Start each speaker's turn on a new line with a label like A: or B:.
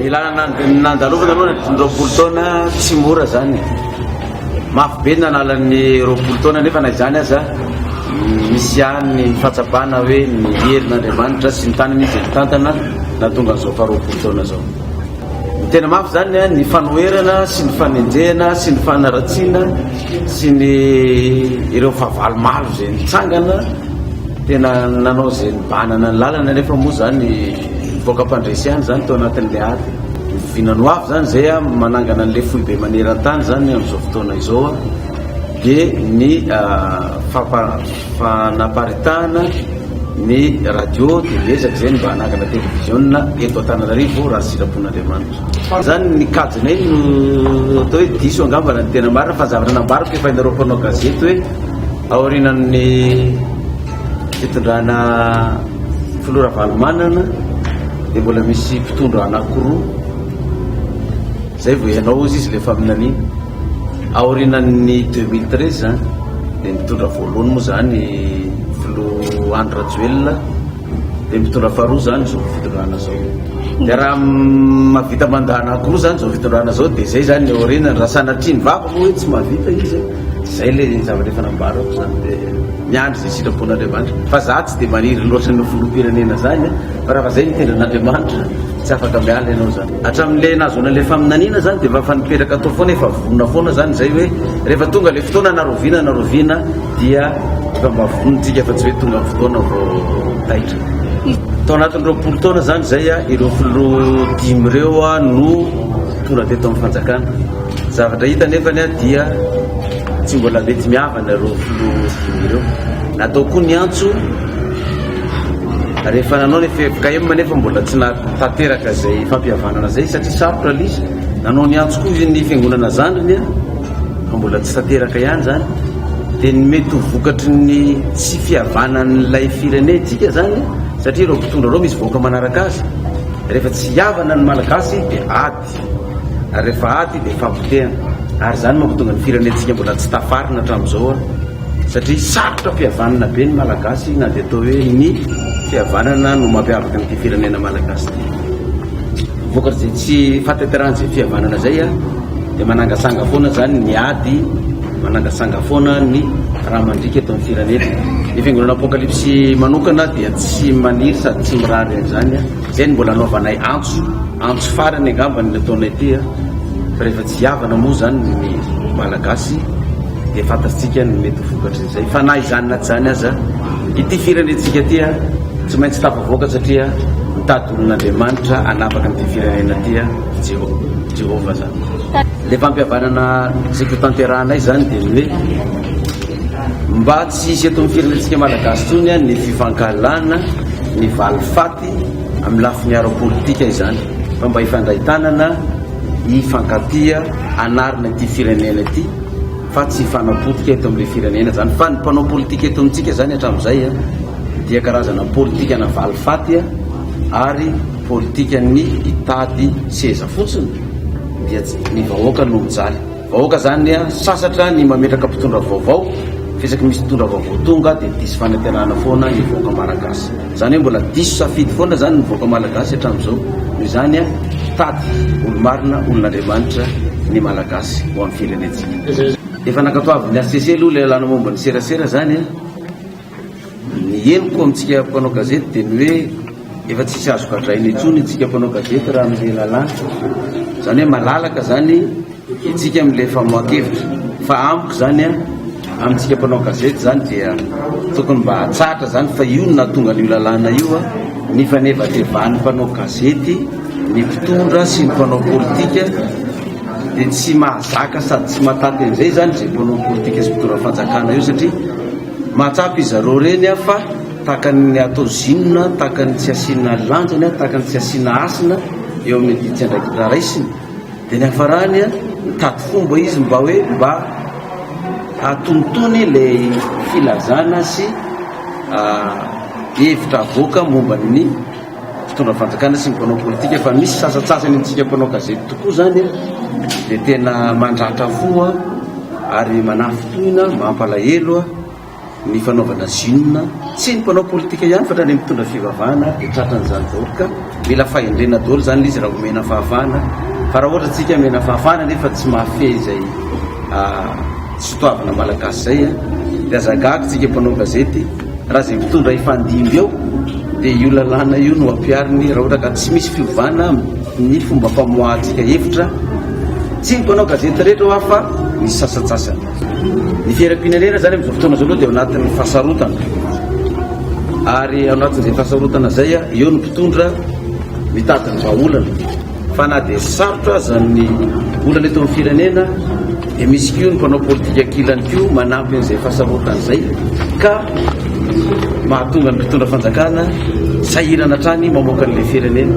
A: Ny lalana nandalovana aloha ny roapolo taona tsy mora zany. Mafy be ny analan'ny roapolo taona nefa na izany aza misy ihany ny fahatsapana hoe ny herin'Andriamanitra sy ny tany misy tantana na tonga an'izao faharoapolo taona izao. Ny tena mafy zany ny fanoherana sy ny fanenjehana sy ny fanaratsiana sy ny ireo fahavalo maro izay mitsangana Tena nanao izay nibanana ny lalana nefa moa izany nivoaka mpandresy ihany izany tao anatin'ilay ady. Oviana ho avy izany izay manangana an'ilay foibe maneran-tany izany amin'izao fotoana izao dia ny fanaparitahana ny radio dia miezaka izay ny mba hanangana televiziona eto Antananarivo raha sitrapon'Andriamanitra. Izany ny kajinay no atao hoe diso angamba raha ny tena marina fa zavatra nambariko efa hianareo mpanao gazety hoe Aorianan'ny fitondrana filoha Ravalomanana dia mbola misy mpitondra anankiroa izay vao ianao izy ilay faminaniana. Aorianan'ny 2013 dia mitondra voalohany moa izany filoha Andry Rajoelina dia mitondra faharoa izany izao fitondrana izao. Dia raha mahavita mandat anankiroa izany izao fitondrana izao dia izay izany ny aorianany raha sanatria ny vaky moa hoe tsy mahavita izy. Zay le zavatra efa nambarako zany de miandry ze sitrapon'Andriamanitra fa za tsy de maniry loatra ny filoham-pirenena zany fa raha fa zay ny tendra an'Andriamanitra tsy afaka miala ianao zany hatramin'le nahazoana le faminaniana zany de efa nipetraka atao foana efa vonona foana zany zay hoe rehefa tonga le fotoana na roviana na roviana dia efa mba vonintsika fa tsy hoe tonga fotoana vao taitra tao anatin'ny roapolo taona zany zay a ireo filoha dimy ireo a no tonga teto amin'ny fanjakana Zavatra hita anefa dia tsy mbola mety mihavana ireo filoha dimy ireo. Natao koa ny antso rehefa nanao ny FFKM anefa mbola tsy nahatanteraka izay fampihavanana izay satria sarotra lisy. Nanao ny antso koa ny fiangonana zandriny fa mbola tsy tanteraka ihany izany. Dia ny mety ho vokatry ny tsy fihavanan'ilay firenentsika izany satria ireo mpitondra ireo misy vahoaka manaraka azy. Rehefa tsy hihavana ny Malagasy dia ady. Ary rehefa ady dia fampotehana. Ary izany no mahatonga ny firenentsika mbola tsy tafarina hatramin'izao an! Satria sarotra fihavanana be ny Malagasy na dia atao hoe ny fihavanana no mampiavaka an'ity firenena Malagasy ity. Vokatr'izay tsy fahatanterahan'izay fihavanana izay an, dia manangasanga foana izany ny ady, manangasanga foana ny raha mandriaka eto amin'ny firenena. Ny fiangonana Apocalypse manokana dia tsy maniry sady tsy mirary an'izany an! Izay no mbola anaovanay antso, antso farany angamba ny nataonay ity a! Fa rehefa tsy hihavana moa izany ny Malagasy dia fantatsika ny mety ho vokatrin'izay. Fa na izany na tsy izany aza, ity firenentsika ity a! Tsy maintsy tafavoaka satria mitady olon'Andriamanitra hanapaka an'ity firenena ity a! I Jeho- Jehovah izany. Ilay fampihavanana tiako hotanterahanay izany dia ny hoe Mba tsy hisy eto amin'ny firenentsika Malagasy intsony ny fifankahalana, ny valifaty amin'ny lafiny ara-politika izany fa mba hifandray tanana, hifankatia hanarina ity firenena ity fa tsy hifanapotika eto amin'ilay firenena izany fa ny mpanao politika eto amintsika izany hatramin'izay dia karazana politikana valifaty ary politikan'ny hitady seza fotsiny dia ny vahoaka no mijaly. Vahoaka zany anie sasatra ny mametraka mpitondra vaovao fa isaky misy mpitondra vaovao tonga dia diso fanatenana foana ny vahoaka malagasy zany hoe mbola diso safidy foana zany ny vahoaka malagasy hatramin'izao noho izany a tady olo marina olon'Andriamanitra ny malagasy ho amin'ny firenentsika efa nankatoavin'ny HCC aloha ilay lalana momba ny serasera zany a Ny heloka amintsika mpanao gazety dia ny hoe efa tsisy azo gadraina intsony itsika mpanao gazety raha amin'ilay lalàna. Izany hoe malalaka izany itsika amin'ilay famoahan-kevitra. Fa amiko izany amintsika mpanao gazety izany dia tokony mba hatsahatra izany fa io no nahatonga an'io lalàna io, ny fanevatevan'ny mpanao gazety, ny mpitondra sy ny mpanao politika dia tsy mahazaka sady tsy mahataty an'izay izany izay mpanao politika sy mpitondra fanjakana io satria Mahatsapa izareo reny aho fa takan'ny atao zinona, takan'ny tsy asiana lanjany, takan'ny tsy asiana hasina eo amin'ny didy andraikitra raisiny. Dia niafarany, nitady fomba izy mba hoe mba hatonitony ilay filazana sy hevitra avoaka momba ny mpitondra fanjakana sy ny mpanao politika fa misy sasantsasany amintsika mpanao gazety tokoa izany dia tena mandratra fo ary manafintohina mampalahelo ny fanaovana zinona tsy ny mpanao politika ihany fa trany mitondra fivavahana dia tratran'izany daholo ka mila fahendrena daholo izany lizy raha omena fahafahana fa raha ohatra tsika mena fahafahana nefa tsy mahafehy izay ah, Tsy toavina malagasy zay a! De aza gaga tsika mpanao gazety raha ze mpitondra hifandimby eo de io lalàna io no ampiariny raha ohatra ka tsy misy fiovana ny fomba famoahantsika hevitra tsy ny mpanao gazety rehetra hoa fa ny sasantsasany. Ny fiainam-pirenena zany amizao fotoana zao aloha de ao anatin'ny fahasarotana ary ao anatin'izay fahasarotana zay a eo ny mpitondra mitady ny vahaolana. Fa na dia sarotra aza ny olana eto amin'ny firenena dia misy koa ny mpanao politika ankilany koa manampy an'izay fahasarotana izay ka mahatonga ny mpitondra fanjakana sahirana hatrany mamoaka an'ilay firenena.